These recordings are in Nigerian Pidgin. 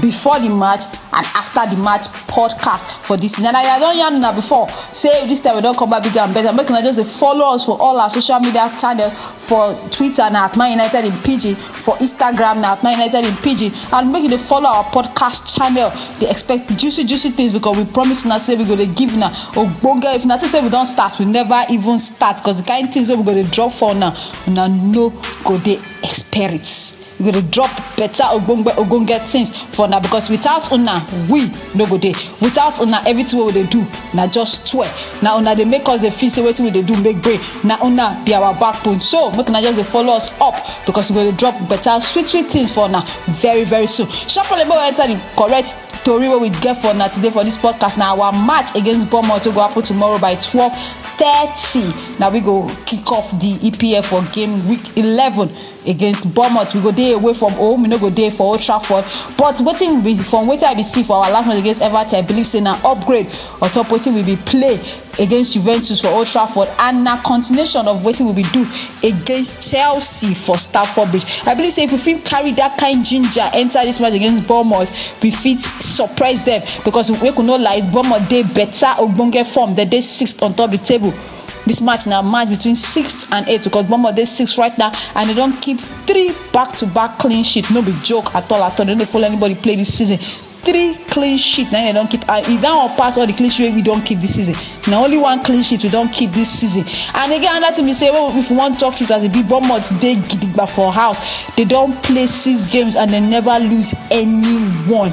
before di match and afta di match podcast for dis season and i don yarn una before say dis time we don come back bigger and better make una just dey follow us for all our social media channels for twitter na at man united in pidgin for instagram na at man united in pidgin and make you dey follow our podcast channel dey expect juicy juicy things because we promise una say we go dey give una ogbonge if una think say we don start we never even start because the kind things wey we go dey drop for una una no go dey expect. We go dey drop better ogbonge ogbonge things for una because without una we no go dey without una everything wey we dey do na just tweh na una dey make us dey feel say wetin we dey do make brain na una be our backbone so make una just dey follow us up because we go dey drop better sweet sweet things for una very very soon sharply make we enter the correct tori wey we get for una today for this podcast na our match against Bournemouth wey go happen tomorrow by twelve thirty na we go kick off the EPL for game week eleven against bournemouth we go dey away from home we no go dey for old trafford but wetin we from wetin i be see for our last match against everton i believe say na upgrade on top wetin we be play against juventus for old trafford and na continuation of wetin we be do against chelsea for stamford bridge i believe say if we fit carry that kind ginger enter this match against bournemouth we fit surprise them because make we no lie bournemouth dey better ogbonge form dem dey sixth on top the table This match now match between sixth and eighth because Bournemouth dey six right now and they don keep three back to back clean sheet no be joke at all at all they no dey follow anybody play this season three clean sheet na im dem don keep and e that one pass all the clean sheet wey we don keep this season na only one clean sheet we don keep this season and again another thing be say well, if we wan talk truth as e be bournemouth dey gidigba for house they don play six games and they never lose any one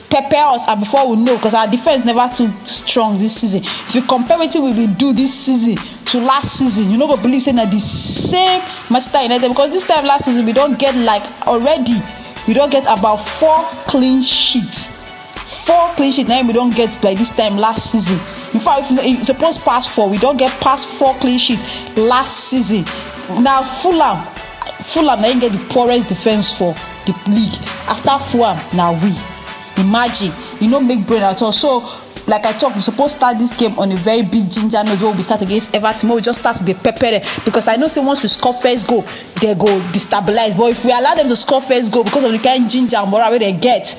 pepper us and before we know because our defense never too strong this season if you compare wetin we bin do this season to last season you no go believe say na the same manchester united because this time last season we don get like already we don get about four clean sheets four clean sheet na im we don get by this time last season in fact if you suppose pass four we don get pass four clean sheets last season na fulham fulham na im get the poorest defence for the league after fulham na we imagine e no make brain at all so like i talk we suppose start this game on a very big ginger note wey we start against everton wey we just start to dey pepper them because i know say once we score first goal they go destabilize but if we allow them to score first goal because of the kind ginger and moral wey they get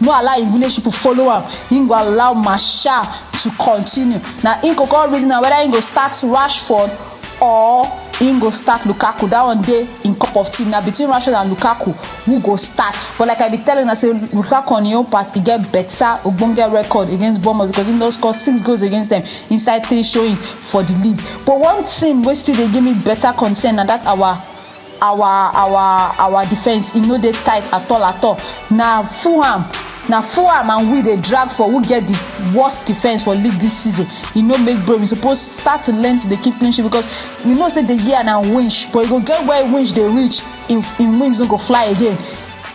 no allow im village people follow am im go allow marshal to continue na im go come reason am whether im go start rashford or im go start lukaku that one dey im cup of tea na between rashford and lukaku who go start but like i be telling una say lukaku on im own part e get better ogbonge record against bournemouth because im don score six goals against them inside three showings for the league but one thing wey still dey give me better concern na that our our our our defence e no dey tight at all at all na fulham na fulham and we dey drag for who get the worst defence for league this season e no make brain we suppose start to learn to dey keep clean sheet because we know say the year na winch but e go get where winch dey reach im im wings no go fly again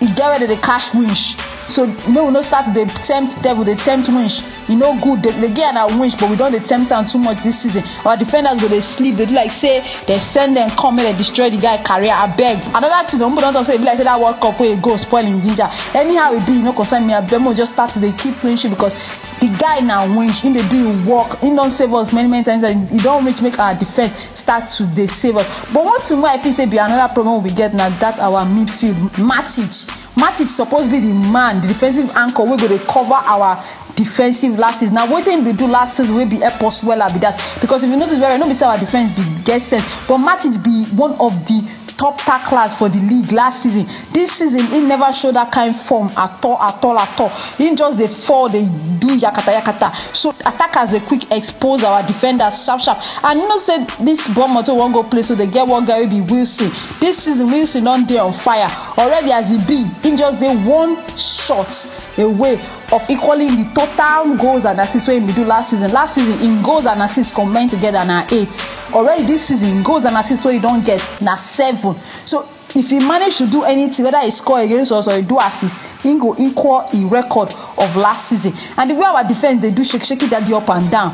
e get where dem dey catch winch so make we no start to dey tempt devil dey tempt winch e no good dey dey get na winch but we don dey tempt am too much this season our defenders go dey sleep dey do like say dem send dem come make dem destroy the guy career abeg another thing some people don talk say e be like say that world cup wey e go spoil him ginger anyhow e be e no concern me abeg make we just start to dey keep clean sheet because the guy na winch him dey do him work him don save us many many times and e don reach make our defence start to dey save us but one thing wey i feel say be another problem wey we get na that our midfield matic Matic suppose be di man, di defensive anchor wey go dey cover our defensive lapses. Na wetin im bin do last season wey bin help us wella be dat because if you notice very well, no be say our defence bin get sense but Matic be one of di top tacklers for di league last season. Dis season, im neva show dat kain form at all at all at all. Im just dey fall, dey do yakata yakata. So attackers dey quick expose our defenders sharp sharp and you know say dis Bournemouth wey we wan go play so, dem get one guy wey be Wilson. Dis season, Wilson don dey on fire. Already as e be, im just dey one shot away of equaling di total goals and assists wey im bin do last season. Last season, im goals and assists combine togeda na eight. Already dis season, im goals and assists wey e don get na seven. So if e manage to do anytin, weda e score against us or e do assist, im go equal im record of last season. And di way our defence dey do shake shake, daddy up and down,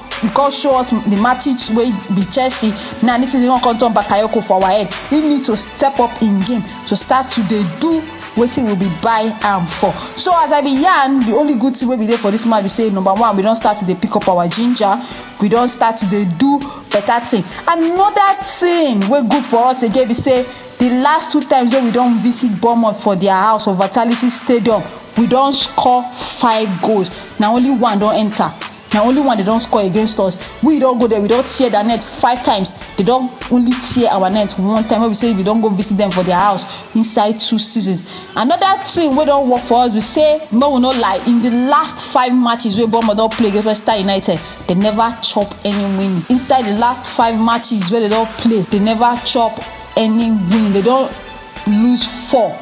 you come show us the matches wey be chelsea now this season you wan come turn bakayoko for our head he need to step up in game to start to dey do wetin we be buy am for so as i be yarn the only good thing wey be dey for this match be say number one we don start to dey pick up our ginger we don start to dey do better thing another thing wey good for us again be say the last two times wey we don visit bournemouth for their house for vitality stadium we don score five goals na only one don enter na only one dem don score against us we don go there we don tear their net five times they don only tear our net one time wey be say we don go visit them for their house inside two seasons another thing wey don work for us be say make we no lie in the last five matches wey bournemouth don play against manchester united they never chop any win inside the last five matches wey they don play they never chop any win they don lose four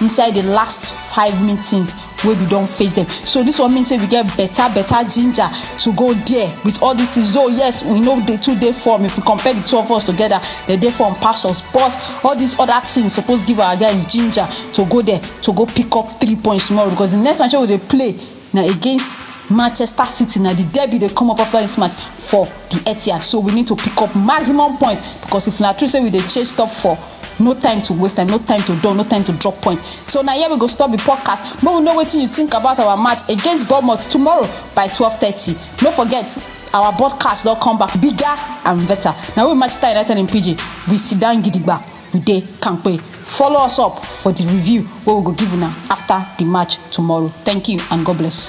inside the last five meetings wey we don face them. so this one mean say we get better better ginger to go there with all these things though yes we know dey too dey form if we compare the two of us together they dey form pass us but all these other things suppose give our guys ginger to go there to go pick up three points tomorrow because the next match wey we dey play na against Manchester City na the derby dey come up after this match for the Etihad so we need to pick up maximum points because if na true say we dey chase top four no time to waste time no time to dull no time to drop point so na here we go stop the podcast make we know wetin you think about our match against bournemouth tomorrow by twelve thirty no forget our broadcast don come back bigger and better na we manchester united in pidgin we sit down gidigba we dey kampe. Follow us up for di review wey we go give una afta di match tomorrow. Thank you and God bless.